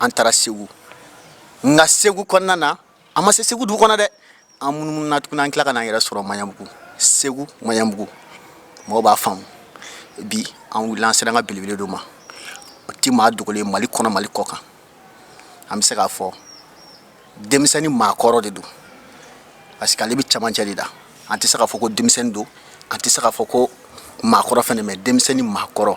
an taara segu nka segu kɔnɔna na an ma se segu dugu kɔnɔ dɛ an munumununa tuguni an tila ka n'an yɛrɛ sɔrɔ maɲanbugu segu maɲanbugu mɔgɔw b'a faamu bi an wulila an sera an ka belebele dɔ ma o ti maa dogolen mali kɔnɔ mali kɔ kan an bɛ se k'a fɔ denmisɛnnin maakɔrɔ de don parce que ale bɛ camancɛ de la an tɛ se k'a fɔ ko denmisɛnnin don an tɛ se k'a fɔ ko maakɔrɔ fɛnɛ mais denmisɛnnin maakɔrɔ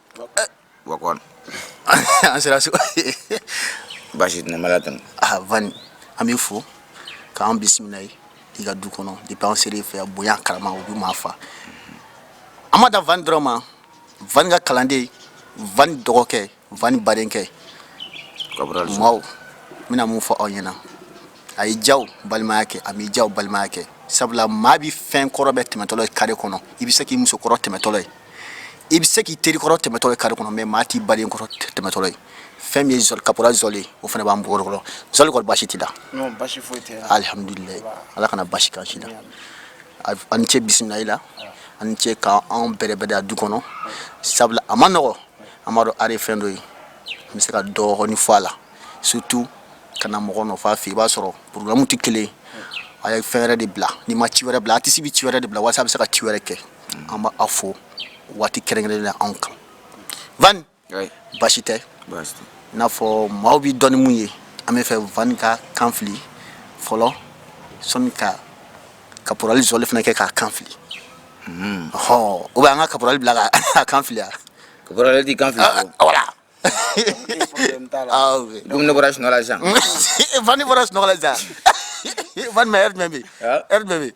Bakari an sera so basi tɛna mara tɛmɛ ah van an b'i fo k'an bisimila i ka du kɔnɔ depuis an sera i fɛ bonya karama o bɛ maa fa an ma da van dɔrɔn ma van ka kalanden van dɔgɔkɛ van badenkɛ ka maaw bɛna mun fɔ aw ɲɛna a ye ja balimaya kɛ a ja balimaya kɛ sabula maa bɛ fɛn kɔrɔ bɛɛ tɛmɛtɔlɔ ye kare kɔnɔ i bɛ se k'i musokɔrɔ tɛmɛtɔlɔ ye i bɛ se k'i teri kɔrɔ tɛmɛtɔ ye kare kɔnɔ mais maa t'i baden kɔrɔ tɛmɛtɔ ye fɛn min ye kaporali zɔli o fana b'an bolo kɔrɔ zɔli kɔni basi t'i la alihamdulila ala kana basi k'an si la an cɛ bisimila i la an cɛ k' anw bɛrɛbɛrɛ a du kɔnɔ sabula a ma nɔgɔ an b'a dɔn art ye fɛn dɔ ye an bɛ se ka dɔɔni fɔ a la surtout ka na mɔgɔ nɔfɛ a fɛ i b'a sɔrɔ programme tɛ kelen ye a ye fɛn wɛrɛ de bila n'i ma ci wɛrɛ bila artiste bɛ ci wɛrɛ de bila walasa a bɛ se ka ci wɛrɛ kɛ an b'a fo waati kɛrɛnkɛrɛnnen na anw kan Van basi tɛ i n'a fɔ maaw b'i dɔn ni mun ye an b'a fɛ Van k'a kan fili fɔlɔ sanni ka kaporali zɔli fana kɛ k'a kan fili hmm. ɔhɔ ou bien an ka kaporali bila k'a kan fili a kaporali t'i kan fili ah, ah, voilà ah, dun ne bɔra sunɔgɔ la sisan Van bɔra sunɔgɔ la sisan Van ma ɛri jumɛn bɛ yen ɛri jumɛn bɛ yen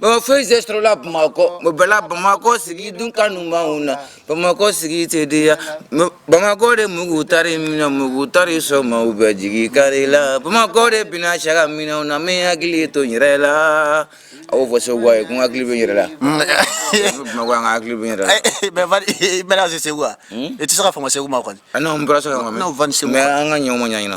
Bon foyi tɛ sɔrɔ la bamakɔ o bɛɛ la bamakɔ sigi dun kanu b'anw na bamakɔ sigi tɛ diya bamakɔ de mugu ta minɛ mugu ta sɔrɔ ma bɛ jigin ka la bamakɔ de bɛna cɛ ka minɛn na min hakili to n yɛrɛ la a fɔ bɛ yɛrɛ la hakili segu wa i tɛ se ka fa segu ma kɔni an ka ɲɔn ɲɛna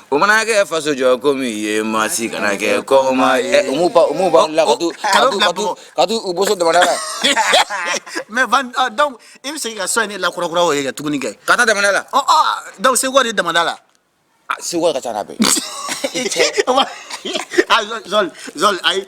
O mana kɛ faso jɔ ko min ye maa si kana kɛ kɔmaa ye u m'u ba u m'u ba bila ka tuu ka tuu ka tuu ka t'u u boso damanda la mais van ɔ donc i bɛ segin ka so in ne lakurakura o ye kɛ tuguni kɛ ka taa damanda la ɔ ɔ donc seguka de damanda la a seguka de ka ca n'a bɛɛ ye i cɛ o ma a zɔl zɔl zɔl ayi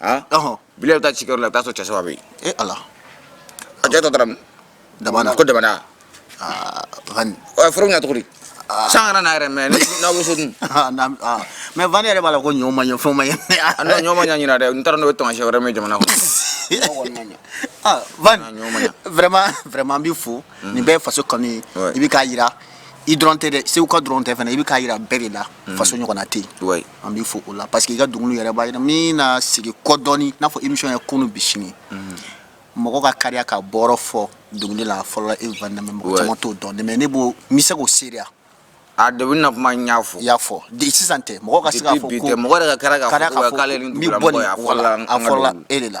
ah bi bɛ taa ci yɔrɔ la i bɛ t'a sɔrɔ cɛ saba bɛ yen e ala a cɛ tɔ taara damanda ko damanda furu ɲɛ cogo san kana n'a yɛrɛ mɛ n'aw bɛ so dun mais van yɛrɛ b'a la ko ɲɔ ma ɲɛ fɛn ma ɲɛ ɲɔ ma ɲɛ ɲina dɛ n taara n'o ye tamasiyɛn wɛrɛ min jamana kɔnɔ van vraiment vraiment an b'i fo nin bɛɛ ye faso kanu ye i bɛ k'a jira i dɔrɔn tɛ dɛ seguka dɔrɔn tɛ fana i bɛ k'a jira bɛɛ de la faso ɲɔgɔnna tɛ yen an b'i fo o la parce que i ka dɔnkiliw yɛrɛ b'a jira n bɛna segin kɔ dɔɔni n'a fɔ émission ye kunun bi sini mhm. mɔgɔ ka kariya ka bɔyɔrɔ fɔ dɔnkili la fɔlɔ e van damme mɔgɔ caman t'o dɔn mais ne b'o n bɛ se k'o seereya a degun na kuma n y'a fɔ y'a fɔ de sisan tɛ mɔgɔ ka se k'a fɔ ko mɔgɔ yɛrɛ ka kariya k'a fɔ k'ale ni dugulamɔgɔ ye a fɔlɔla e de la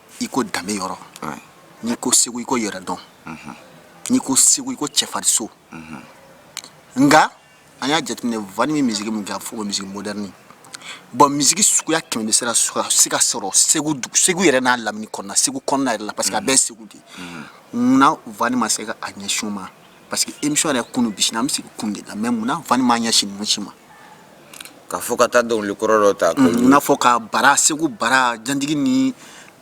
i ko danbe yɔrɔ n'i ko segu i ko yɛrɛdɔn mhm. n'i ko segu i ko cɛfariso mhm. nka an y'a jateminɛ vani bɛ musique min kɛ a fɔ ko musique moderne bon musique suguya kɛmɛ bɛ se ka se ka sɔrɔ segu segu yɛrɛ n'a lamini kɔnɔna segu kɔnɔna yɛrɛ la parce que a bɛɛ segu de ye munna vani ma se ka a ɲɛsin o ma parce que émission yɛrɛ kunun bi sini an bɛ segin kunun de la mais mun na vani m'a ɲɛsin ninnu si ma k'a fɔ ka taa dɔnkili kɔrɔ dɔ ta mun na fɔ ka bara segu bara janjigi ni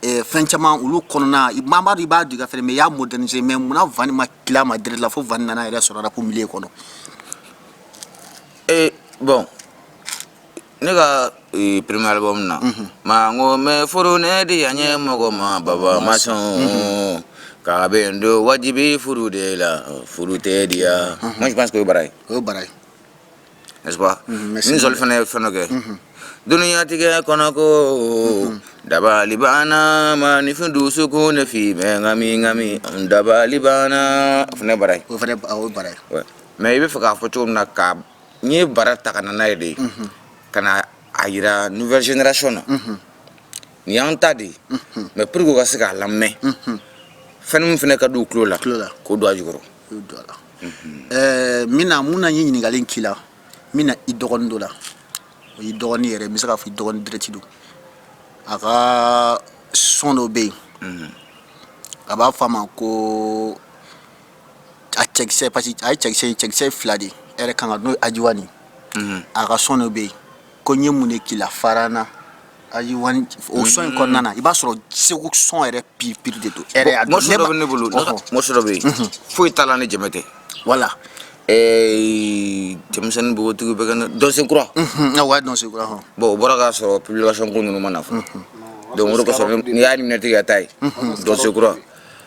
eh, fɛn caman olu kɔnɔna i b'a dɔn i b'a dɔ kɛ fɛnɛ mais i y'a moderniser mais mun na vani ma tilen a ma direct la fo vani nana yɛrɛ sɔrɔ rap milieu kɔnɔ e bon ne ka premier album na ma ko n bɛ furu ne diyanyemɔgɔ ma baba ma sɔn k'a bɛ n don wajibi furu de la furu tɛ diya moi je pense que o ye bara ye n'est-ce pas ni zoli fana ye fɛn kɛ duniya tigɛ kɔnɔ ko dabali banna maaninfin dusukun ne fɛ bɛ ɲagami ɲagami dabali banna fana bara ye o fana bara ye mais i b'a fɛ k'a fɔ cogo min na ka n ye bara ta ka na n'a ye de ka na a jira nouvelle génération na nin y'an ta de ye mais pour que u ka se k'a lamɛn fɛn min fana ka di u tulo la k'o don a jukɔrɔ n bɛna mun na n ye ɲininkali in k'i la n bɛna i dɔgɔnin dɔ la o y'i dɔgɔnin yɛrɛ n bɛ se k'a fɔ i dɔgɔnin direct don a ka son dɔ bɛ yen a b'a fɔ a ma ko a cɛkisɛ parce que a ye cɛkisɛ ye cɛkisɛ ye fila de ye e yɛrɛ kan ka n'o ye ajiwani ye a ka son dɔ bɛ yen ko n ye mun de k'i la farana ajiwani o son in kɔnɔna na i b'a sɔrɔ segu son yɛrɛ pur pur de don e yɛrɛ y'a dɔn morceau dɔ bɛ ne bolo Ɔhɔ. morceau dɔ bɛ yen foyi t'a la ni jɛmɛ tɛ voilà Eh, cɛmisɛn ni npogotigiw bɛ kɛ ne- dɔnsen kura a wa dɔnsen kura hɔn bon o bɔra k'a sɔrɔ publication ko ninnu ma na fɔlɔ donc o de kosɔn n'i y'a minɛtigi ka taa ye dɔnsen kura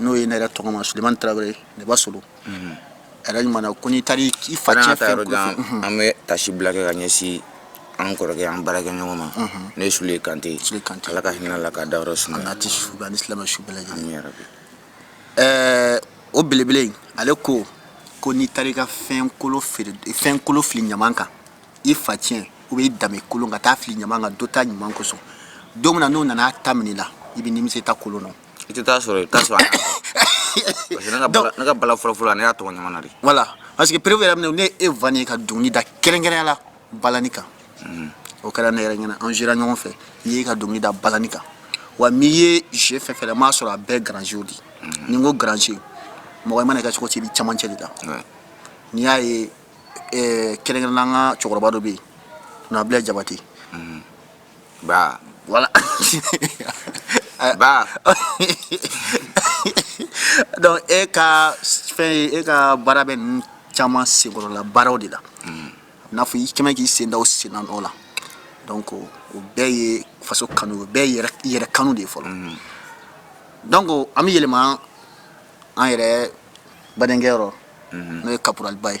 n'o ye ne yɛrɛ tɔgɔma sulemani tarawele neba solo ɲuman ko n'i taara i fa an bɛ tasi bila kɛ ka ɲɛsin an kɔrɔkɛ an baarakɛ ɲɔgɔn ma n'o ye sule kante sule kante ala ka hinɛ a la k'a dayɔrɔ suma a tɛ su ni silamɛ su bɛɛ lajɛlen o belebele ale ko ko n'i taara i ka fɛn kolon fɛn kolon fili ɲaman kan i faciyɛn ou bien i danbe kolon ka taa fili ɲaman kan dɔ ta ɲuman kosɔn don min na n'o nana a ta minɛ i la i bɛ nimisa i ta kolon na i tɛ t'a sɔrɔ i t'a sɔrɔ parce que ne ka bala ne ka bala fɔlɔ fɔlɔ ne y'a tɔmɔ ɲaman na de voilà parce que preuve yɛrɛ minɛ ne e van y'i ka dɔnkili da kɛrɛnkɛrɛnya la balani kan mhm. o kɛra ne yɛrɛ ɲɛna an jɛra ɲɔgɔn fɛ i y'i ka dɔnkili da balani kan wa n'i ye jeu fɛn fɛn la m'a sɔrɔ a bɛɛ grand jeu de mhm. ni n ko grand jeu mɔgɔ i mana kɛ cogo o cogo i bɛ camancɛ de la n'i y'a ye kɛrɛnkɛrɛnnenya an ka cɛkɔrɔba dɔ bɛ yen nabila jabate mhm. Ba. Voilà. ba. donc e ka fɛn ye e ka baara bɛ ninnu caman senkɔrɔla baaraw de la i n'a fɔ i kɛmɛ k'i sen da o senna nɔ la donc o bɛɛ ye faso kanu o bɛɛ ye yɛrɛ kanu de ye fɔlɔ donc an bɛ yɛlɛma an yɛrɛ badenkɛ yɔrɔ n'o ye kaporaliba ye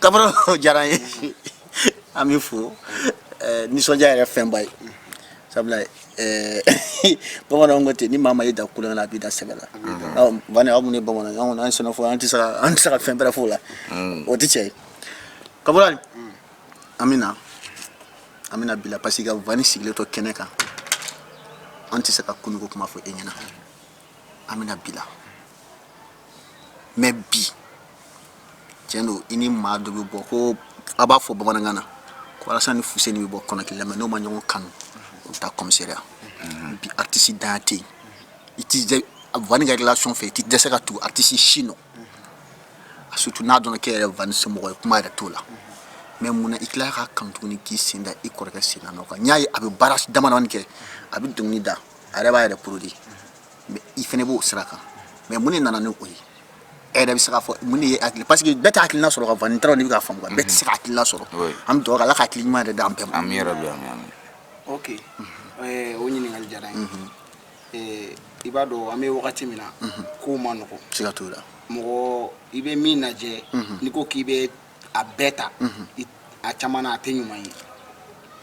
kaporali diyara n ye an b'i fo eh, nisɔndiya yɛrɛ fɛnba ye sabula eh, bamananw ko ten ni maa min y'i dan tulonkɛ la a b'i dan sɛbɛ la vani aw minnu ye bamananw anw an sɛnɛfɔ an tɛ se ka an tɛ se ka fɛn bɛrɛ f'o la mm. o tɛ tiɲɛ ye kaporali an bɛ na an bɛna bi la parce que vani sigilen to kɛnɛ kan an tɛ se ka kununko kuma fɔ e ɲɛna an bɛna bi la mais bi tiɲɛ don i ni maa dɔ bɛ bɔ ko a b'a fɔ bamanankan na ko alasani ni fuseni bɛ bɔ kɔnɔ kelen na mais n'o ma ɲɔgɔn kanu o bɛ taa kɔmisɛriya bi aritisi dan tɛ yen i tɛ vani ka relation fɛ i tɛ dɛsɛ ka tugu aritisi si nɔ a surtout n'a dɔnna k'e yɛrɛ vani somɔgɔ ye kuma yɛrɛ t'o la mais mun na i tilala ka kanu tuguni k'i sen da i kɔrɔkɛ sen na nɔ kan n y'a ye a bɛ baara damadamani kɛ a bɛ dɔnkili da a yɛrɛ b'a yɛrɛ produit i fana b'o sira kan mais mun de nana ni o ye e yɛrɛ bɛ se k'a fɔ mun de ye hakili parce que bɛɛ tɛ hakilina sɔrɔ ka vani taara n'i bɛ k'a faamu bɛɛ tɛ se ka hakilina sɔrɔ an bɛ dugawu ala ka hakili ɲuman yɛrɛ d'an bɛɛ ma amiina yarabi ok eh, o ɲininkali diyara n ye eh, i b'a dɔn an bɛ wagati min na kow man nɔgɔ siga t'o la mɔgɔ i bɛ min lajɛ n'i ko k'i bɛ a bɛɛ ta a caman na a tɛ ɲuman ye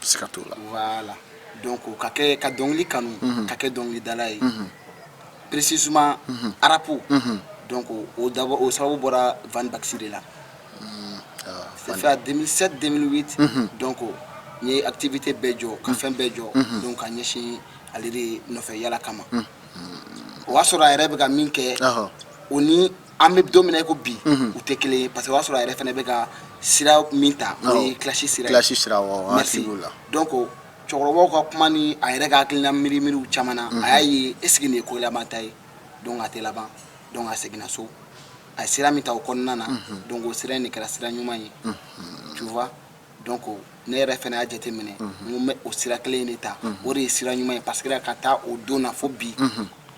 siga t'o la voilà donc ka dɔnkili kanu ka kɛ dɔnkilidala ye précisément arapu donc o sababu bɔra Van Baxy de la c'est fait 2007 2008 donc n ye activité bɛɛ jɔ ka fɛn bɛɛ jɔ donc k'a ɲɛsin ale de nɔfɛ yaala kama o y'a sɔrɔ a yɛrɛ bɛ ka min kɛ o ni an bɛ don min na i ko bi u tɛ kelen ye parce que o y'a sɔrɔ a yɛrɛ fana bɛ ka sira min ta o ye clash sira ye clash sira merci donc cɛkɔrɔbaw ka kuma ni a yɛrɛ ka hakilina miiri miiriw caman na a y'a ye est ce que nin ye ko laban ta ye donc a tɛ laban donc a seginna so a ye sira min ta o kɔnɔna na donc o sira in de kɛra sira ɲuman ye tu vois donc ne yɛrɛ fana y'a jateminɛ n ko n bɛ o sira kelen in de ta o de ye sira ɲuman ye parce que ka taa o don na fo bi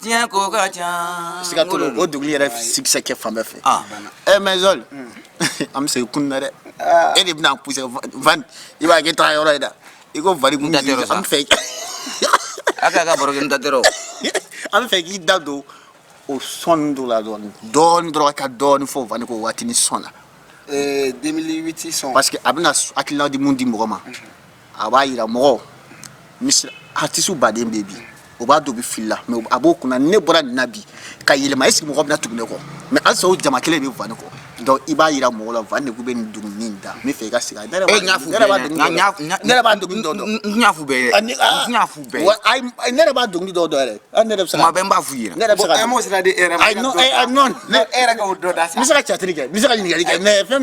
diɲɛ ko ka ca siga t'o la o dɔnkili yɛrɛ succès kɛ fan bɛɛ fɛ Ah. eh mais Zol an bɛ segin kunun na dɛ e de bɛna pousser Van i b'a kɛ taga yɔrɔ ye dɛ i ko Van kun N da tɛ yɔrɔ sa. an bɛ fɛ a k'a ka barokɛ n da tɛrɛ o an bɛ fɛ k'i da don o son dɔ la dɔɔni dɔɔni dɔrɔn ka dɔɔni fɔ Van ko waati ni son la 2008 son parce que a bɛna hakilina di mun di mɔgɔ ma a b'a jira mɔgɔ misi artiste baden bɛ bi o b'a dɔn o bɛ fili la mais a b'o kunna ne bɔra nin na bi ka yɛlɛma est ce que mɔgɔ bɛna tugu ne kɔ mais halisa o jama kelen bɛ Van de kɔ donc i b'a jira mɔgɔ la Van de bɛ nin dɔnkili min da n bɛ fɛ i ka segin ne yɛrɛ b'a dɔnkili dɔw dɔn yɛrɛ ne bɛ b'a f i ne bɛ se ka cari kɛ bɛ se ka ɲininkali kɛ mais fɛn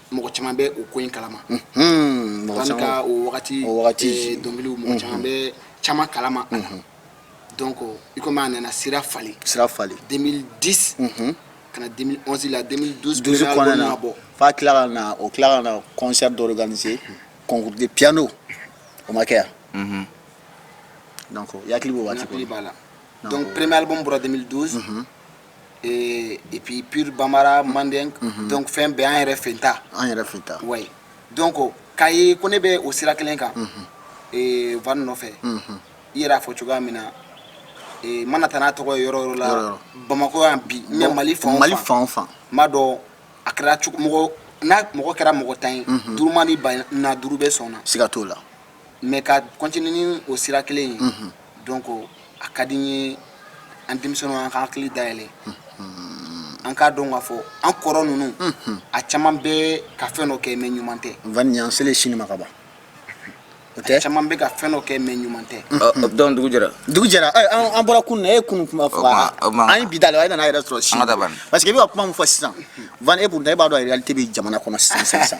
mɔgɔ caman bɛ o ko in kalama ka o wagati dɔnkiliw mɔgɔ caman bɛ caman kalama donc i komi a nana sira falen sira falen 2010 2011 la na bɔ Van tilala ka na o tila ka na concert dɔ organiser concours de pdo o ma kɛ yan ya b'a la donc premier album bɔra 2012 Et puis pure bamara manden donc fɛn bɛɛ an yɛrɛ fɛ ta an yɛrɛ fɛ ta wa donc k'a ye ko ne bɛ o sira kelen kan Van nɔfɛ i yɛrɛ y'a fɔ cogoya min na i mana taa n'a tɔgɔ ye yɔrɔ o yɔrɔ la bamakɔ yan bi mɛ mali fa mali fan fan b'a dɔn a kɛra cogo n'a mɔgɔ kɛra mɔgɔ tan ye duuru mana ban a na duuru bɛ sɔn siga t'o la mais ka continuer n'o sira kelen ye donc a ka di n ye an denmisɛnw an k'an hakili da yɛlɛ an k'a dɔn k'a fɔ an kɔrɔ ninnu a caman bɛ ka fɛn dɔ kɛ mais ɲuman tɛ Vani an selen sini ma kaban o tɛ caman bɛ ka fɛn dɔ kɛ mais ɲuman tɛ donc dugu jɛra dugu jɛra an bɔra kun e kun kuma fɔ an bi da la e nana yɛrɛ sɔrɔ si parce que e bɛ ka kuma min fɔ sisan e b' da e b'a dɔn réalité bɛ jamana kɔnɔ sisan sisan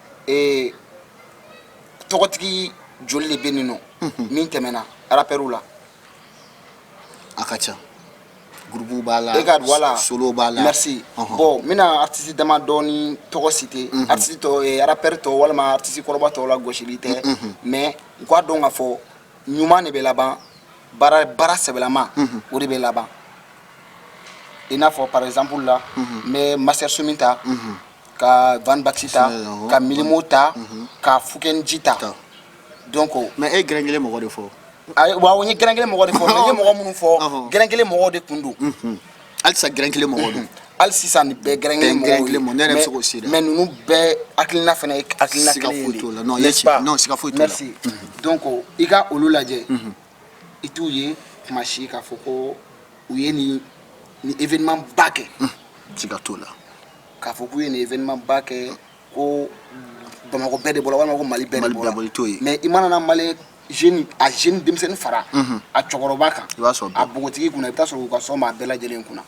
ee tɔgɔtigi joli de bɛ nin nɔ min tɛmɛna arapɛriw la a ka ca groupe b'a la voilà solo b'a la merci bon n bɛna artiste dama dɔɔni tɔgɔ citer artiste tɔw eh, arapɛri tɔw walima artiste kɔrɔba tɔw la gosili tɛ mais u k'a dɔn k'a fɔ ɲuman de bɛ laban baara sɛbɛlama o de bɛ laban i n'a fɔ par exemple la n bɛ Master Soumy ta ka Van Baxy ta ka Mylmo ta ka Fouken J ta donc mais e gɛrɛn kelen mɔgɔ de fɔ wa o ye gɛrɛn kelen mɔgɔ de fɔ n ye mɔgɔ minnu fɔ gɛrɛn kelen mɔgɔw de tun don halisa gɛrɛn kelen mɔgɔ don hali sisan nin bɛɛ gɛrɛn kelen ne mais ninnu bɛɛ hakilina fana ye hakilina kelen ye siga foyi t'o la donc i ka olu lajɛ i t'u ye kuma si k'a fɔ ko u ye nin événement ba kɛ siga t'o la k'a fɔ k'u ye nin événement ba kɛ ko Bamakɔ bɛɛ de bɔra walima ko Mali bɛɛ de bɔra mais i mana na Mali jeune a jeune denmisɛnnin fara a cɛkɔrɔba kan a bogotigi kunna i bɛ taa sɔrɔ u ka son b'a bɛɛ lajɛlen kunna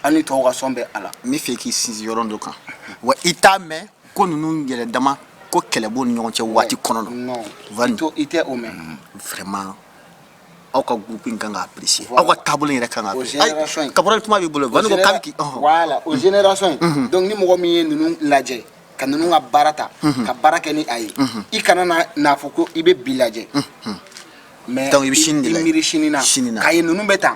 hali ni tɔw ka son bɛ a la n bɛ fɛ k'i sinsin yɔrɔ dɔ kan wa i t'a mɛn ko ninnu yɛrɛ dama ko kɛlɛ b'u ni ɲɔgɔn cɛ waati kɔnɔ non i tɛ o mɛn vraiment aw ka groupe in kan ka apprécier aw ka table yɛrɛ kan ka apprécier Caporal kuma b'i bolo Vani ko k'a bɛ k'i voilà o génération in mhm. donc ni mɔgɔ min ye ninnu lajɛ ka ninnu ka baara ta mhm. ka baara kɛ ni a ye mhm. i kana n'a fɔ ko i bɛ bi lajɛ mais donc i bɛ sini de la i miiri sini na k'a ye ninnu bɛ tan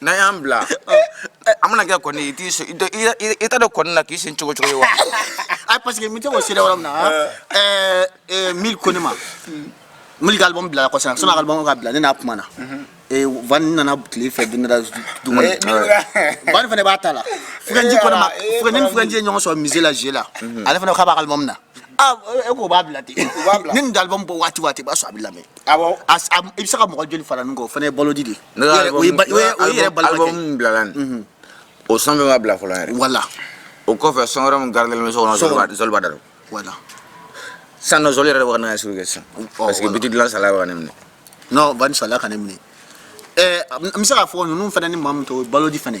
N'a y'an bila an mana kɛ kɔni i t'a dɔn kɔni na k'i sen cogo cogo ye wa ayi parce que n tɛ ko sira yɔrɔ min na Mil ko ne ma Mil ka album bila ko sisan son album ka bila ne n'a kuma na Vani nana tile fɛ dun Vani fana b'a ta la Fouken J ɲɔgɔn sɔrɔ musée la G la ale fana k'a b'a ka album na Ah, e ko b'a bila ten ni nin de album bɔ waati waati b'a sɔrɔ a bɛ lamɛn i bɛ se ka mɔgɔ joli fara ɲɔgɔn kan o fana ye balodi de o yɛrɛ album bilala nin o son bɛ ma bila fɔlɔ yɛrɛ voilà o kɔfɛ son wɛrɛ min garidelen bɛ so kɔnɔ Zoli b'a da don voilà sisan nɔ Zoli yɛrɛ bɛ ka n'a sugu kɛ sisan parce que beat dilan sala bɛ ka ne minɛ non Vani sala ka ne minɛ ɛɛ n bɛ se k'a fɔ ninnu fana ni maa min to balodi fana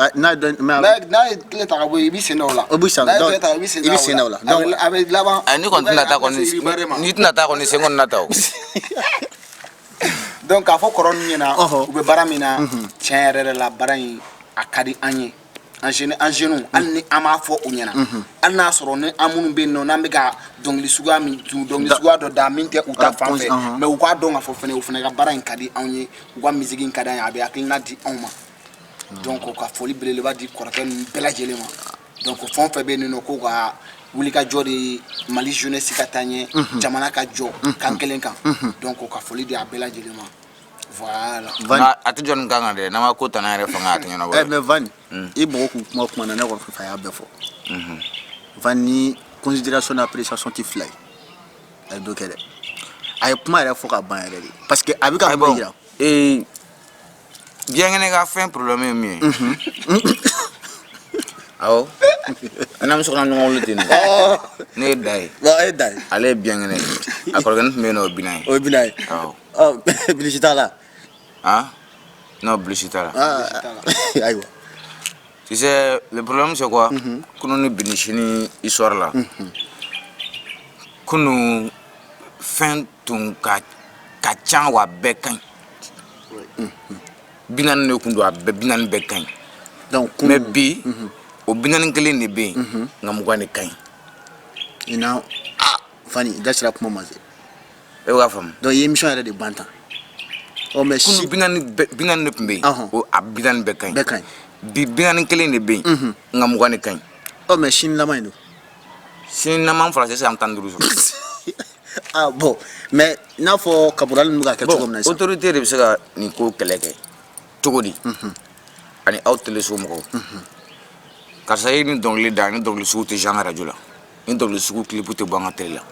Ah, n'a ye dɔn- mais a bɛ- n'a ye tile ta ka bɔ yen i b'i sen da o la O b'i sen da- n'a ye tile ta i b'i sen i b'i sen da o la. a bɛ a bɛ laban Ayi, n'i kɔni tɛna taa kɔni n'i tɛna taa kɔni sen kɔni na ta o donc k'a fɔ kɔrɔ ninnu ɲɛna Ɔhɔ. u bɛ baara min na tiɲɛ yɛrɛ yɛrɛ la baara in a ka di an ye an jeune an jeunes hali ni an m'a fɔ u ɲɛna hali n'a sɔrɔ ni an minnu bɛ yen nɔ n'an bɛ ka dɔnkili suguya min dun dɔnkili Da- suguya dɔ da min tɛ u ta Ah, fan pɔnsi, fɛ ɔhɔn. mais u k'a dɔn k'a fɔ fana u fana ka baara in ka di anw ye u ka misiki in ka di an ye a bɛ hakilina di anw ma donc ka foli belebeleba di kɔrɔkɛ ninnu bɛɛ lajɛlen ma donc fɛn o fɛn bɛ yen nɔ ko ka wuli ka jɔ de mali jeunesse ka taa ɲɛ mhm. jamana ka jɔ mhm. kan kelen kan mhm. donc ka foli di a bɛɛ lajɛlen ma voilà nka a tɛ jɔ nin kan kan dɛ n'an ma ko tana yɛrɛ fanga a tɛ ɲɛnabɔ eh, mais Van mm. i mɔgɔ k'u kuma kuma na ne kɔni fɛ a y'a bɛɛ fɔ Van ni considération n'appréciation tɛ fila ye a ye dɔ kɛ dɛ a ye kuma yɛrɛ fɔ ka ban yɛrɛ de parce que a bɛ ka kuma yira Biyankɛnɛ ka fɛn problème ye min ye. Unhun. Awɔ. An n'an bɛ sokɔnɔ ɲɔgɔn wele ten de. Ɔɔ! Ne ye Da ye. Ɔɔ e ye Da ye. Ale ye biyankɛnɛ ye. A kɔrɔkɛnin tun bɛ yen nɔ o ye Bilan ye. O ye Bilan ye. Awɔ. Ɔ bilisi t'a la? Han? Non bilisi t'a la. Aa! Bilisi t'a la. Ayiwa. Tu sais le problème c'est quoi? Unhun. Kunun ni bi ni sini histoire la. Unhun. Kunun fɛn tun ka ca wa a bɛɛ ka ɲi. bi naani de tun don a bɛɛ bi naani bɛɛ ka ɲi ɔ mais bi o bi naani kelen de bɛ yen nka mugan de ka ɲi i na ah Van i da sera kuma ma se e b'a faamu donc i ye émission yɛrɛ de ban tan ɔ mais kunu si bi naani bɛɛ bi naani de tun bɛ yen Ɔhɔn. o a bi naani bɛɛ ka ɲi bɛɛ ka ɲi bi bi naani kelen de bɛ yen nka mugan de ka ɲi ɔ mais sini laban in don sini n'an m'an fara sisan an tɛna duuru sɔrɔ ah bon mais n'a fɔ Cabral ninnu bɛ ka kɛ cogo min na sisan autorité de bɛ se ka nin ko kɛlɛ kɛ cogo di ani aw teleso mɔgɔw karisa ye nin dɔnkili da nin dɔnkili sugu tɛ jouer an ka arajo la nin dɔnkili sugu clip tɛ bɔ an ka tele la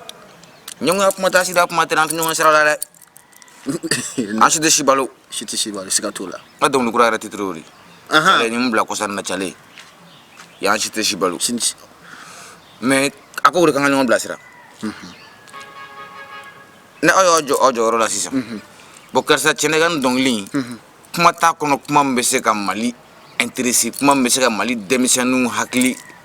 ɲɛgoya kuma t'a sida kuma tɛ an tɛ ɲɔgɔn sira la dɛ an si tɛ si balo si tɛ si balo siga t'o la n ka dɔnkili kura yɛrɛ titre o de ye ni n bila kɔsa na calen y'an si tɛ si balo mais a ko o de kan ka ɲɔgɔn bilasira ni aw y'aw jɔ aw jɔyɔrɔ la sisan bon karisa cɛ n'e ka nin dɔnkili in kuma t'a kɔnɔ kuma min bɛ se ka mali intéresser kuma min bɛ se ka mali denmisɛnninw hakili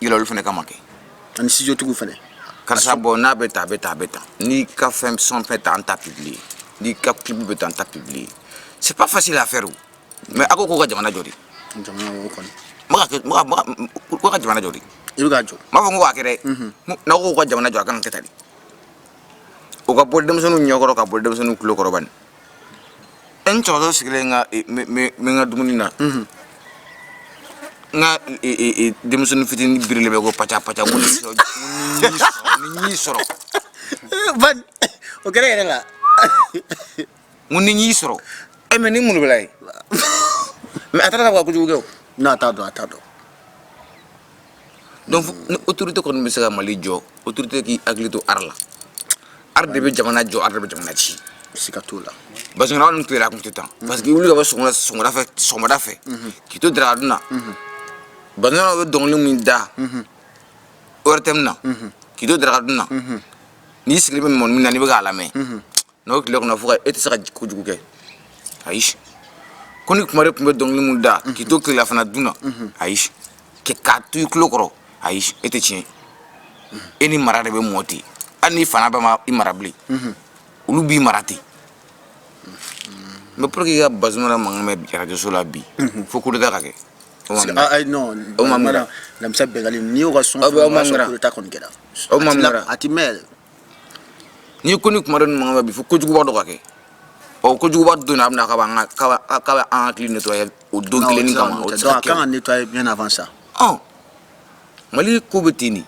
yɛlɛ olu fana kama kɛ ani studio tigiw fana karisa bon n'a bɛ tan a bɛ tan a bɛ tan n'i ka fɛn son bɛ tan an t'a publier n'i ka clip bɛ tan an t'a publier c'est pas facile à faire mais a ko k'u ka jamana jɔ de jamana o kɔni ko ka jamana jɔ de i bɛ ka jɔ m'a fɔ ko k'a kɛ dɛ n'aw ko k'u ka jamana jɔ a kan ka kɛ tan de o ka bɔ denmisɛnninw ɲɛkɔrɔ ka bɔ denmisɛnninw tulo kɔrɔ bani n cɛkɔrɔba sigilen bɛ n ka dumuni na n ka e, e, denmisɛnnin fitinin birilen bɛ ko paca paca ko ni sɔrɔ ni y'i sɔrɔ o kɛra yɛrɛ la ko ni y'i sɔrɔ e mais ni mun de b'a la ye mais a taara ka kojugu kɛ o n'a t'a dɔn a t'a dɔn donc ni autorité kɔni bɛ se ka mali jɔ autorité k'i hakili to art la art de bɛ jamana jɔ art de bɛ jamana ci siga t'o la parce que annu tile la a tun tɛ tan parce que wuli ka bɔ sɔgɔmada fɛ k'i to daraka dun na bazumana bɛ dɔnkili min da ortm na k'i to daraka dun na n'i sigilen bɛ mɔni min na n'i bɛ k'a lamɛn n'o tile kɔnɔ fo e tɛ se ka kojugu kɛ ayi koni kumare tun bɛ dɔnkili min da k'i to tilelafana dun na ayi k'a to i tulo kɔrɔ ayi e tɛ tiɲɛ e ni mara de bɛ mɔ ten hali n'i fa n'i ba ma i mara bilen olu b'i mara ten mais pour que i ka bazumana mankan mɛn arajoso la bi fo kudeta ka kɛ lamisa bɛngali n'i y'o ka son aw ma kɔni kɛra aw ma a tɛ mɛn ni koni kumare nin mankan bɛ bi fo kojuguba dɔ ka kɛ ɔ kojuguba don na a bɛna k'a b'an ka k'a b'a- k'a bɛ an hakili nettoyer o don Non, kelen ni o tɛ se ka kama o tɛ se nettoyer. ka Donc, a ka kan ka nettoyer bien avant ça. ɔ mali ko bɛ ten de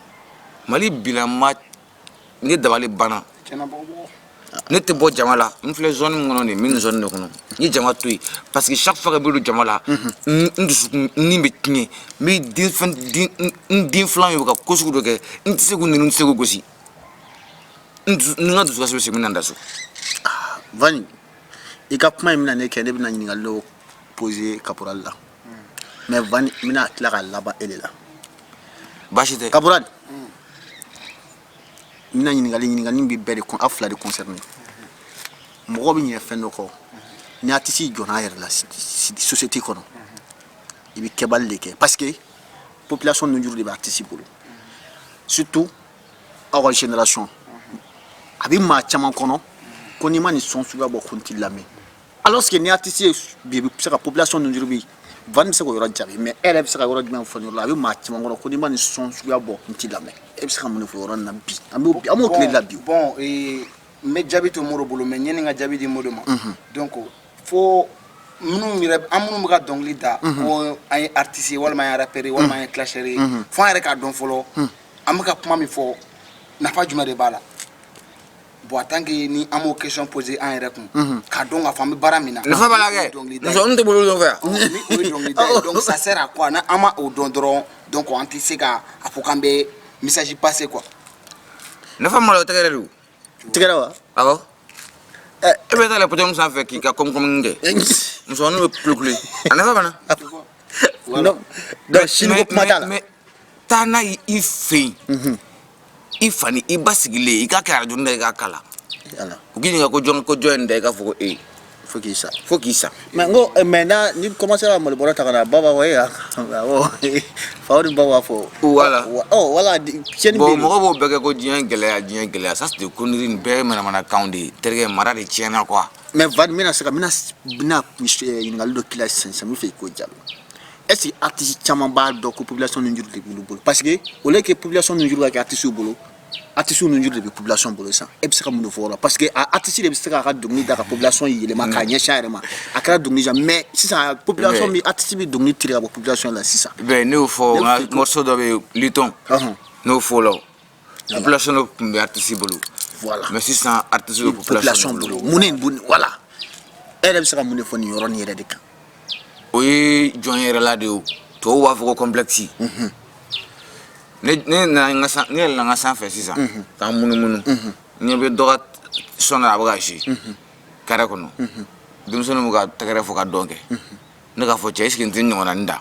mali bilama ne dabali banna ne tɛ bɔ jama la n filɛ zone min kɔnɔ ne bɛ nin zone de kɔnɔ n ye jama to yen parce que chaque fois que n bɛ don jama la n n dusukun ni bɛ tiɲɛ n bɛ n den filan ye u ka ko sugu dɔ kɛ n tɛ se k'u nɛni n tɛ se k'u gosi n ka dusukasi bɛ segin min na n da so ah, vani i ka kuma in bɛna ne kɛ ne bɛna ɲininkali dɔ poser caporal la mais vani n bɛna tila ka laban e de la baasi tɛ caporal n bɛna ɲininkali ɲininkali bɛ bɛɛ de kun aw fila de concerné mɔgɔ bɛ ɲinɛ fɛn dɔ kɔ ni artiste jɔyɔrɔ la société kɔnɔ i bɛ kɛbali de kɛ parce que population ninnu juru de bɛ artiste bolo surtout aw ka génération a bɛ maa caman kɔnɔ ko n'i ma nin son suguya bɔ ko n t'i lamɛn alors que ni artiste ye bi i bɛ se ka population ninnu juru bi van bɛ se k'o yɔrɔ jaabi mais e yɛrɛ bɛ se ka yɔrɔ jumɛn fɔ nin yɔrɔ la a bɛ maa caman kɔnɔ ko n'i ma nin son suguya bɔ n t'i lamɛn e bɛ se ka mun de fɔ yɔrɔ nin na bi an b'o tile de la bi o. bon ee n bɛ jaabi to moro bolo mais yanni n ka jaabi di moro ma donc fo minnu yɛrɛ an minnu bɛ ka dɔnkili da ko an ye artiste ye walima an ye rappeur ye walima an ye clasheur ye fo an yɛrɛ k'a dɔn fɔlɔ an bɛ ka kuma min fɔ nafa jumɛn de b'a la bon en tant que ni an m'o question poser an yɛrɛ kun k'a dɔn k'a fɔ an bɛ baara min na nafa b'a la kɛ dɔnkilida ye. musonin tɛ bolo dɔ fɛ yan Ɔhɔn, ni o ye dɔnkilida ye donc ça sert à quoi ni an ma o dɔn dɔrɔn donc an tɛ se ka a fɔ k'an bɛ message passer quoi nafa malo tɛgɛ de don tɛgɛrɛ wa awɔ e bɛ taa le podium sanfɛ k'i ka kɔmikɔmini kɛ muso ninnu bɛ kulekule a nafa banna donc sini ko kuma t'a la mais taa n'a ye i fɛ yen mhm. i fa ni i ba sigilen i k'a kɛ arajo da i k'a kala u k'i ɲininka ko jɔn ko jɔn ye nin da i k'a fɔ ko e fo k'i sa fo k'i sa mais n ko eh, maintenant n'i commencé ka malo bɔrɔ ta ka na ba b'a fɔ e awɔ faw ni ba b'a fɔ voilà ɔ voilà tiɲɛna bon mɔgɔ b'o bɛɛ kɛ ko diɲɛ gɛlɛya diɲɛ gɛlɛya ça c'est des conneries nin bɛɛ ye manamanakanw de ye terikɛ mara de tiɲɛna quoi mais van n bɛna se ka n bɛna bɛna eh, ɲininkali dɔ k'i la sisan sisan n b'a fɛ i k'o jaabi est ce que artiste caman b'a dɔn ko population nunjuru de b'olu bolo parce que au lieu que population nunjuru ka kɛ artiste bolo artistew nunjuru de bɛ population bolo sisan e bɛ se ka mun de fɔ o la parce que a artiste de bɛ se k'a ka dɔnkili da ka population yɛlɛma k'a ɲɛsin a yɛrɛ ma a kɛra dɔnkili jan mais sisan population bɛ artiste bɛ dɔnkili tiré ka bɔ population la sisan. bɛn ne y'o fɔ n ka morceau dɔ bɛ yen litɔn n'o fɔ la o population nun tun bɛ artiste bolo voilà mais sisan artiste bɛ population bolo mun de voilà e yɛrɛ bɛ se ka mun de fɔ nin yɔrɔnin yɛrɛ de kan. o ye jɔn yɛrɛla de ye tɔw b'a fɔ ko complexe ne yɛlɛnna n ka sanfɛ sisan ka n munumunu ne bɛ dɔ ka son a bɛ ka si carré kɔnɔ denmisɛnnin bɛ ka tɛgɛrɛ fo ka dɔn kɛ ne k'a fɔ cɛ est ce que n tɛ nin ɲɔgɔnna da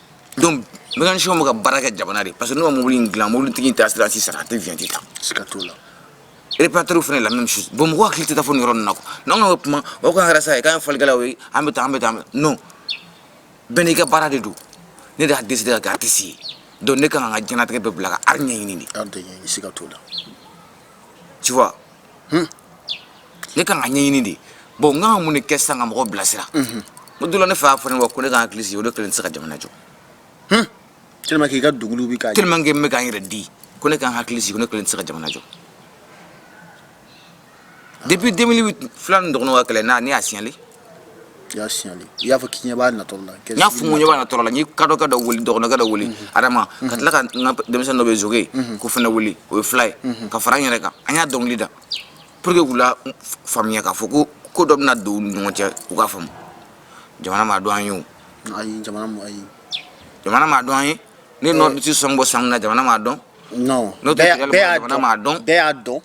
donc mécanicien bɛ ka baara kɛ jamana de parce que n'u ka mobili in dilan mobilitigi in taara sira sisan a tɛ viyanti ta siga t'o la réparateurs fana la même chose bon mɔgɔ hakili tɛ taa fo nin yɔrɔ ninnu na quoi n'an ka kuma o kan kɛra sa ye k'an ye fɔlikɛlaw ye an bɛ taa an bɛ taa non bɛɛ n'i ka baara de don ne de y'a décider ka kɛ artiste ye donc ne kan ka n ka diɲɛnatigɛ bɛɛ bila ka art ɲɛɲini de art ɲɛɲini siga t'o la tu vois ne kan ka ɲɛɲini de bon n kan ka mun de kɛ sisan ka mɔgɔw bilasira n b'o de la ne fa y'a fɔ ne ma ko ne ka hakili sigi ko ne kelen tɛ se ka jamana jɔ tellement que i ka dɔnkili bɛ ka tellement que n bɛ ka n yɛrɛ di ko ne ka n hakili sigi ko ne kelen tɛ se ka jamana jɔ depuis 2008 fila ni dɔgɔnɔw ka kɛlɛ na ne y'a signalé i y'a signalé i y'a fɔ k'i ɲɛ b'a natɔ de la n y'a fɔ n ko n ɲɛ b'a natɔ de la n ye kadokɛ dɔ wele dɔgɔnɔkɛ dɔ wele adama ka tila ka n ka denmisɛnnin dɔ bɛ zoge ko fana wele o ye fila ye ka fara n yɛrɛ kan an y'a dɔnkili da pour que k'u la faamuya k'a fɔ ko ko dɔ bɛna don u ni ɲɔgɔn cɛ u k'a faamu jamana m'a dɔn an ye o ayi jamana m'a ye jamana m'a dɔn an ye ne nɔ tɛ son bɔ san min na jamana m'a dɔn n'o tɛ jamana m'a dɔn bɛɛ y'a dɔn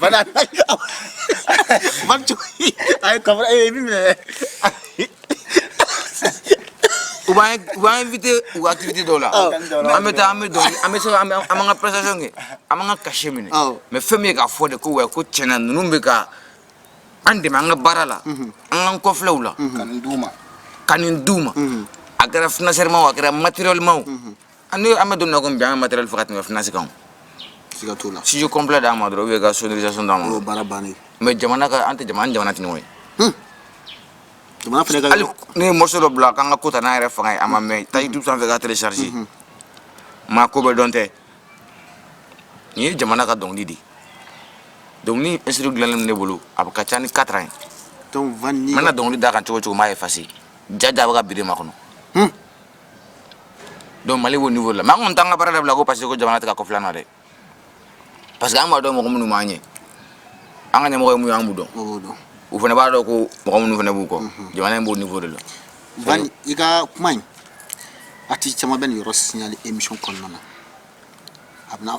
Bana Bak çok iyi. Ayi kamera evi mi? U b'an, u b'an invité u activité dɔ la. Oh. An bɛ taa an bɛ dɔnkili an bɛ se ka an bɛ an b'an ka prestation kɛ an b'an ka cachet minɛ. Awɔ. Mais fɛn min ye k'a fɔ de ko wɛ ko tiɲɛna ninnu bɛ ka an dɛmɛ an ka baara la an k'an kɔfilɛ u la ka nin d'u ma ka nin d'u ma a kɛra financièrement o a kɛra matériellement o An an bɛ don ko bi an matériel fɔ ka tɛmɛ finance kan studio complet d'an ma dɔrɔn ou bien ka sonorisation d'an ma bon mais jamana ka an tɛ jamana jamana tɛ ye ne ye morceau dɔ bila a k'an ka ko ta n'an yɛrɛ fanga ye a ma mɛn taa YouTube fɛ k'a télécharger maa ko bɛɛ dɔn tɛ nin ye jamana ka dɔnkili de donc ni instru dilannen ne bolo a bɛ ka ca ni quatre ans ye n mana dɔnkili d'a kan cogo o cogo n b'a effacer jaaja bɛ ka bi ma kɔnɔ donc Mali b'o niveau la mais an kɔni t'an ka baara dabila ko parce que ko jamana tɛ ka kɔfilɛ an na dɛ parce que an b'a dɔn mɔgɔ minnu b'an ɲɛ an ka ɲɛmɔgɔ ye mun ye an b'u dɔn u fana b'a dɔn ko mɔgɔ minnu fana b'u kɔ jamana in b'o niveau de la Van i ka kuma in artiste caman bɛ nin yɔrɔ signaler émission kɔnɔna na a bɛna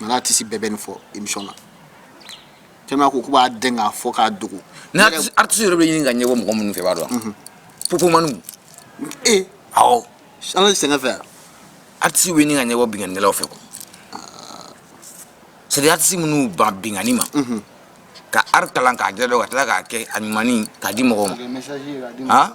Mali artiste bɛɛ bɛ nin fɔ émission na te ko k' b'a den k'a fɔ k'a dogo n'a artiste yɛrɛ bɛ ɲini ka ɲɛbɔ mɔgɔ minnu fɛ b'a dɔn pmani ee san sɛgɛn fɛ artiste bɛ ɲini ka ɲɛbɔ binkannikɛlaw fɛ quoi c'est des artistes minnu ban binkanni ma ka art kalan k'a jɛ dɔn ka tila k'a kɛ a ɲuman k'a di mɔgɔw ma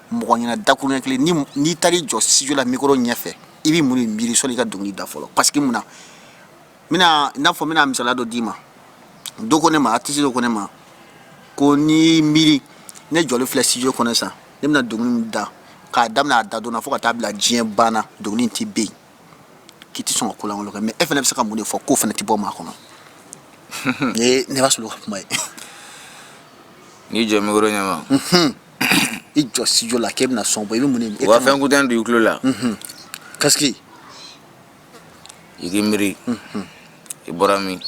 mɔgɔ ɲɛna dakuruɲɛ kelen ni n'i taar'i jɔ studio la mikoro ɲɛfɛ i bɛ mun de miiri sɔnni i ka dɔnkili da fɔlɔ parce que mun na n bɛna i n'a fɔ n bɛna misaliya dɔ d'i ma dɔ ko ne ma artiste dɔ ko ne ma ko n'i miiri ne jɔlen filɛ studio kɔnɔ sisan ne bɛna dɔnkili min da k'a daminɛ a da don na fo ka taa bila diɲɛ ban na dɔnkili in tɛ ban k'i tɛ sɔn ka ko lankolon kɛ mais e fana bɛ se ka mun de fɔ k'o fana tɛ bɔ maa kɔnɔ ne b'a sɔrɔ ka kuma ye n'i jɔ mikoro ɲɛma i jɔ studio la k'e bɛna son bɔ i bɛ mun de u ka fɛn écouteur don i tulo la casque i k'i miiri i bɔra min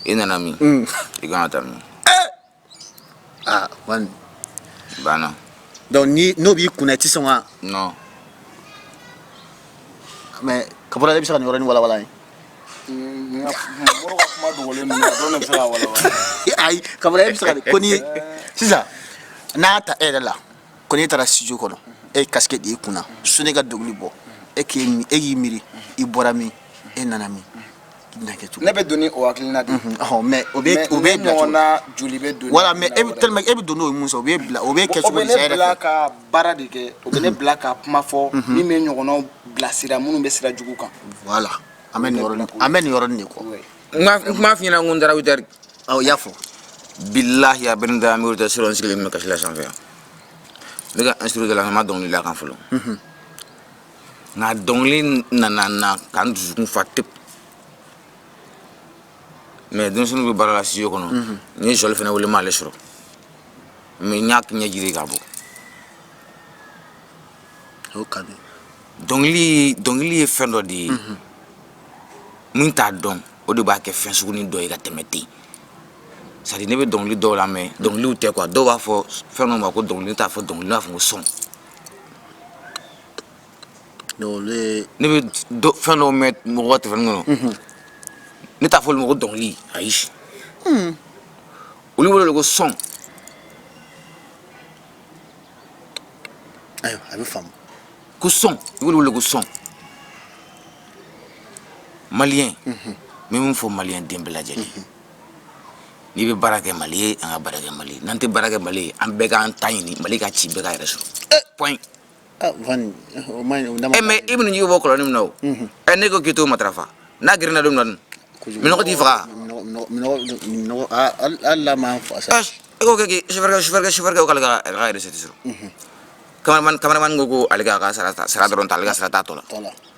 i nana min i kan ka taa min ah Van banna donc ni n'o b'i kunna i tɛ sɔn ka non mais Kabura e bɛ se ka nin yɔrɔnin walawala ye Ayi e sisan n'a ta e yɛrɛ la ko n'i taara studio kɔnɔ e ye casque d'i kunna sɔnni i ka dɔnkili bɔ e k' e y'i miiri i bɔra min e nana min ne bɛ don o hakilina mais o bɛ joli voilà mais e bɛ don n'o ye mun sɔrɔ o bɛ bila o bɛ kɛ baara de kɛ o bɛ ne bila ka kuma fɔ min bɛ ɲɔgɔnw bilasira minnu bɛ sira jugu kan voilà an bɛ an bɛ nin yɔrɔ de kɔ n kuma f'i ɲɛna ko da dari aw y'a fɔ bilayi a bɛ da an s sigilen bɛ kasi la sanfɛ yan ne ka instru an ma dɔnkili la kan fɔlɔ nka dɔnkili nana na k'an dusukun fa tep mais denmisɛnninw bɛ baara la studio kɔnɔ n ye Sɔli fana wele m'ale sɔrɔ mais n y'a ɲɛ jiri ka bɔ o ka di dɔnkili dɔnkili ye fɛn dɔ de ye mhm. min t'a dɔn o de b'a kɛ fɛn sugunin dɔ ye ka tɛmɛ ten c'est à dire ne bɛ dɔnkili dɔw lamɛn dɔnkiliw tɛ quoi dɔw b'a fɔ fɛn dɔ ma ko dɔnkili t'a fɔ dɔnkili b'a fɔ ko son ne bɛ fɛn dɔw mɛn mɔgɔ ka téléphone kɔnɔ mhm. ne t'a fɔ olu ma ko dɔnkili ayi hmm. olu wele ko son ayiwa a bɛ faamu ko son olu wele ko son maliyɛn n bɛ min fɔ maliyɛn den bɛɛ lajɛlen n'i bɛ baara kɛ mali ye an ka baara kɛ mali ye n'an tɛ baara kɛ mali ye an bɛɛ k'an ta ɲini mali ka ci bɛɛ ka yɛrɛ sɔrɔ point Ah, mɛ i minnu ɲɛ bɔ kɔlɔn min na ɛ ne ko k'i to o mafa n'a gna don nɔ minɛnɔgɔ t'i faga sufɛkɛ sukɛ ka yɛrɛti kamalen ko ko ale ka sara dɔrɔn ta ale ka sara t' tɔ la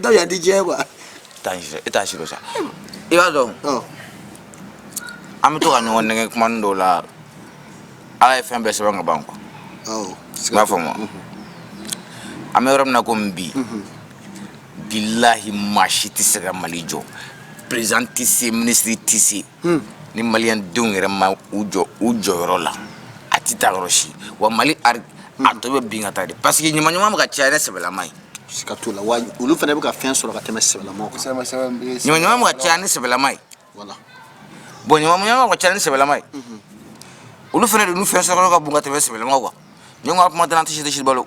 dɔw y'a di diɲɛ quoi e t'a si dɔ sa i b'a dɔn an bɛ to ka ɲɔgɔn nɛgɛ kumanin dɔw la ala ye fɛn bɛɛ sɛbɛn ka ban quoi i b'a faamu wa an bɛ yɔrɔ min na komi bi bilahi maa si tɛ se ka mali jɔ président tɛ se ministre tɛ se ni maliyɛn denw yɛrɛ ma u jɔ u jɔyɔrɔ la a tɛ taa yɔrɔ si wa mali a tɔ bɛ bin ka taa de parce que ɲamanɲaman bɛ ka caya ni sɛbɛlama ye siga t'o la wa olu fana bɛ ka fɛn sɔrɔ ka tɛmɛ sɛbɛlama kan ɲamanɲaman bɛ ka caya ni sɛbɛlama ye bon ɲamanɲaman bɛ ka caya ni sɛbɛlama ye olu fana de n'u fɛn sɔrɔ ka bon ka tɛmɛ sɛbɛlama kan ɲɔgɔn ka kuma tɛ an tɛ si tɛ si balo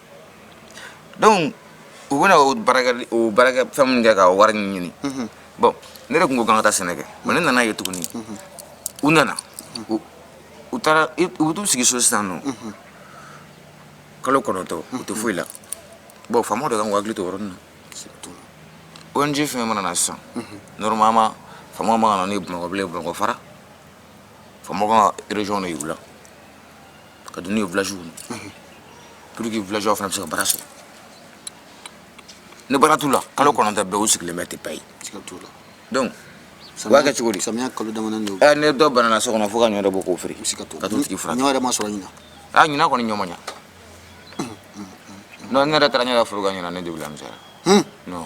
donc u bɛna o baarakɛ o baarakɛ fɛn min kɛ ka wari ɲini bon ne de tun ko k'an ka taa sɛnɛ kɛ bon ne nan'a ye tuguni u nana u u taara i- u bɛ t'u sigi so sisan nɔ kalo kɔnɔntɔn u tɛ foyi la bon faamaw de kan k'u hakili to o yɔrɔnin na ONG fɛn mana na sisan normalement faamaw man ka na n'u ye bamakɔ bilen bamakɔ fara faamaw kan ka région de yir'u la ka don n'u ye villagew kɔnɔ pour que villageois fana bɛ se ka baara sɔrɔ ni baara t'u la kalo kɔnɔntɔn bɛɛ u sigilen bɛ tɛ paye donc u b'a kɛ cogo di samiya kalo damadɔ de don ni dɔ banana so kɔnɔ fo ka ɲɔ dɔ bɔ k'o feere ka t'o tigi furakɛ ɲɔ yɛrɛ ma sɔrɔ ɲinan a ɲinan kɔni ɲɔ ma ɲa non ne yɛrɛ taara n ɲɛ da foro kan ɲinan ne debila misɛra non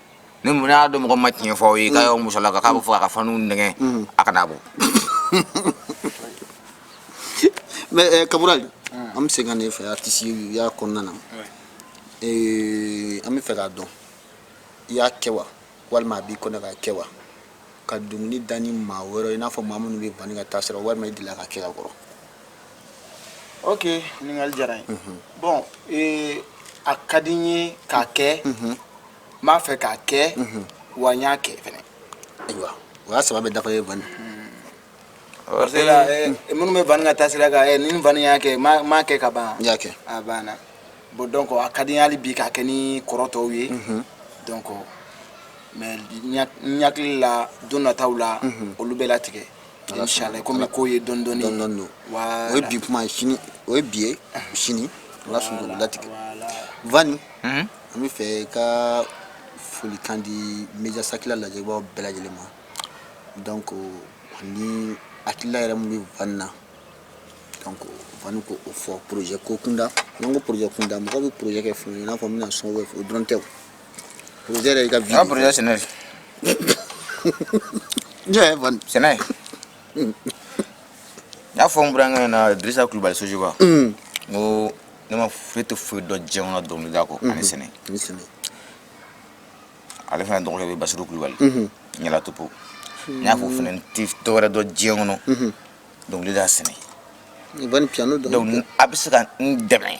ni mun y'a dɔn mɔgɔ ma tiɲɛ fɔ aw ye k'a y'aw musola ka k'a bɛ fɔ a ka faniw nɛgɛ a kana bɔ mais eh, kaburali an bɛ se ka ne fɛ artisteya kɔnɔna na Eh, an b'a fɛ k'a dɔn i y'a kɛ wa walima a b'i kɔnɔ k'a kɛ wa ka dɔnkili da ni maa wɛrɛ i n'a fɔ maa minnu bɛ vani ka taasira walima i delila k'a kɛ ka kɔrɔ ok ɲininkali diyara n ye bon ee a ka di n ye k'a kɛ n b'a fɛ k'a kɛ wa n y'a kɛ fɛnɛ ayiwa o y'a saba bɛɛ dafa ye vani parce que la eh, minnu bɛ vani ka taasira kan eh, ne ni vani y'a kɛ n m'a- n m'a kɛ ka ban n y'a kɛ a banna bon donc a ka di n ye hali bi k'a kɛ ni kɔrɔ tɔw ye donc mais n ya- n hakili la don nataw la olu bɛ latigɛ Ala komi ko ye dɔɔnin dɔɔnin o ye bi kuma o ye bi ye sini ala sɔnna latigɛ Van an b'a fɛ i ka foli kan di bɛjasakila lajɛbaa bɛɛ lajɛlen ma donc ani hakilila yɛrɛ min bɛ Van na donc Van ko o fɔ projet ko kunda n'an ko projet kunda mɔgɔ bɛ projet kɛ fɛn i n'a fɔ bɛna na sɔn o dɔrɔn tɛ Projet ka vie. Ah projet sɛnɛ. Jaa Van. Sɛnɛ. N y'a fɔ n burankɛ ɲɛ na Dirisa Kulubali Sojiba. N ko ne ma foyi n tɛ foyi dɔn diɲɛ kɔnɔ dɔnkilida kɔ ani sɛnɛ. Ani sɛnɛ. Ale fana dɔgɔkɛ bɛ Basiru Kulubali. Ɲɛla topo. N y'a fɔ fana n tɛ dɔwɛrɛ dɔn diɲɛ kɔnɔ dɔnkilida sɛnɛ. Ni Van piano dɔn. Donc a bɛ se ka n dɛmɛ.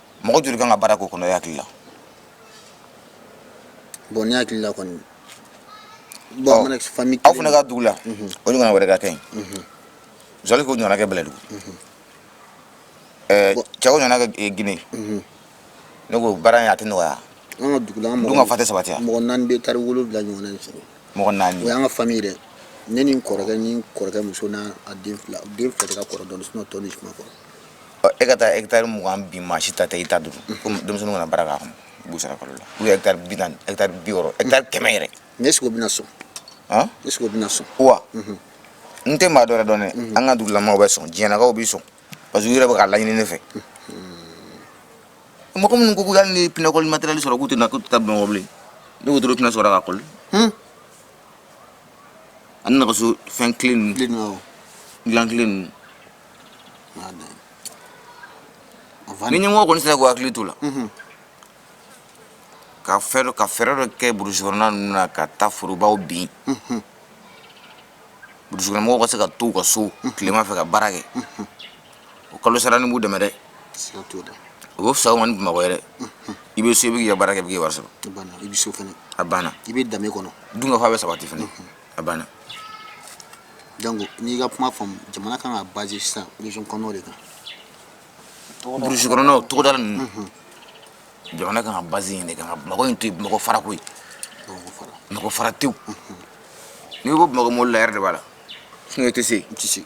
mɔgɔ joli kan ka baara k'o kɔnɔ e hakili la bon ne hakili la kɔni aw fana ka dugu la mhm. o ɲɔgɔn wɛrɛ ka kɛ yen mhm. zɔli k'o ɲɔgɔn kɛ Bɛlɛdugu mhm. cɛ o ɲɔgɔn kɛ eh, Gine ne ko baara in a tɛ nɔgɔya an ka dugu la an dun ka fa tɛ sabatiya mɔgɔ naani bɛ taari wolowula ɲɔgɔnna in sɔrɔ mɔgɔ naani o y'an ka fami dɛ ne ni n kɔrɔkɛ ni kɔrɔkɛ muso n'a den fila den fila de ka kɔrɔ dɔɔni sinon tɔ ninnu si ma kɔrɔ E ka taa hectare mugan bin maa si ta tɛ i ta dɔrɔn comme denmisɛnninw ka na baara k'a kɔnɔ i b'u sara kalo la ou hectare bi naani hectare bi wɔɔrɔ hectare kɛmɛ yɛrɛ mais est-ce que o bɛna sɔn est-ce que o bɛna sɔn wa n tɛ maa dɔ wɛrɛ dɔn an ka dugulamɔgɔw bɛ sɔn diɲɛkaw bɛ sɔn parce que u yɛrɛ bɛ k'a laɲini ne fɛ mɔgɔ minnu ko hali ni pinɛkɔli matériel sɔrɔ k'u tɛna k'u tɛ taa Bamakɔ bilen ne wotoro pinɛ sɔrɔ k'a kɔli ani nɛgɛso fɛn kelen ninnu dilan kelen ninnu Madam. Avani. Ni ɲɛmɔgɔw kɔni sera k'u hakili t'o la. Unhun. Ka fɛn dɔ ka fɛɛrɛ dɔ kɛ burusi kɔnɔna ninnu na ka taa forobaw bin. Unhun. Burusi kɔnɔ mɔgɔw ka se ka to u ka so tilema fɛ ka baara kɛ. Unhun. O kalo sara ni b'u dɛmɛ dɛ. Siga t'o la. O bɛ fisa u ma ni Bamakɔ ye dɛ. Unhun. I bɛ so i bɛ k'i ka baara kɛ i bɛ k'i ka wari sɔrɔ. A banna i bɛ so fana. A banna. I bɛ danbe kɔnɔ. Dunkafa bɛ sabati fana. Unhun. a banna donc n'i ka kuma faamu jamana kan ka base sisan région kɔnɔnaw de kan burusi kɔnɔnaw togodala ninnu jamana kan ka base yen de kan ka bamakɔ in to yen bamakɔ fara koyi bamakɔ fara tewu n'i ko bamakɔ mɔbili la yɛrɛ de b'a la sinon i tɛ se yen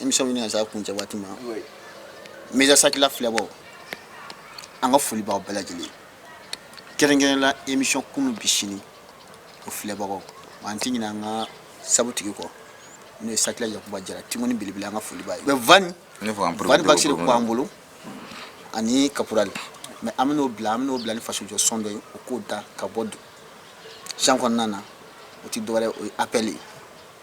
émission ɲini ka s'a kuncɛ waati ma média sakila filɛbagaw an ka foli b'aw bɛɛ lajɛlen kɛrɛnkɛrɛnla émission kunu bi sini o filɛbagaw an tɛ ɲina an ka sabutigi kɔ n'o ye sakila yakuba jara timuni belebele an ka foli b'a ye mais van van baxy de ko an bolo ani caporal mais an bɛn'aw bila an bɛn'aw bila ni faso jɔ son dɔ ye o k'o da ka bɔ san kɔnɔna na o tɛ dɔwɛrɛ o ye appel ye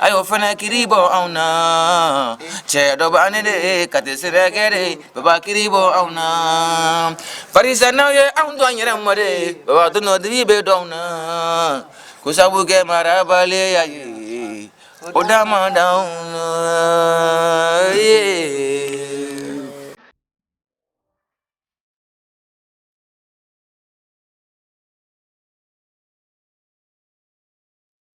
a y'o fana kiri bɔ anw na cɛ dɔ b'an ni de k'an tɛ sɛnɛkɛ dɛ baba kiri bɔ anw na barisa n'aw ye anw to an yɛrɛ ma dɛ baba donnadigi bɛ dɔn na ko sabu kɛ marabaliya ye o dama d'anw na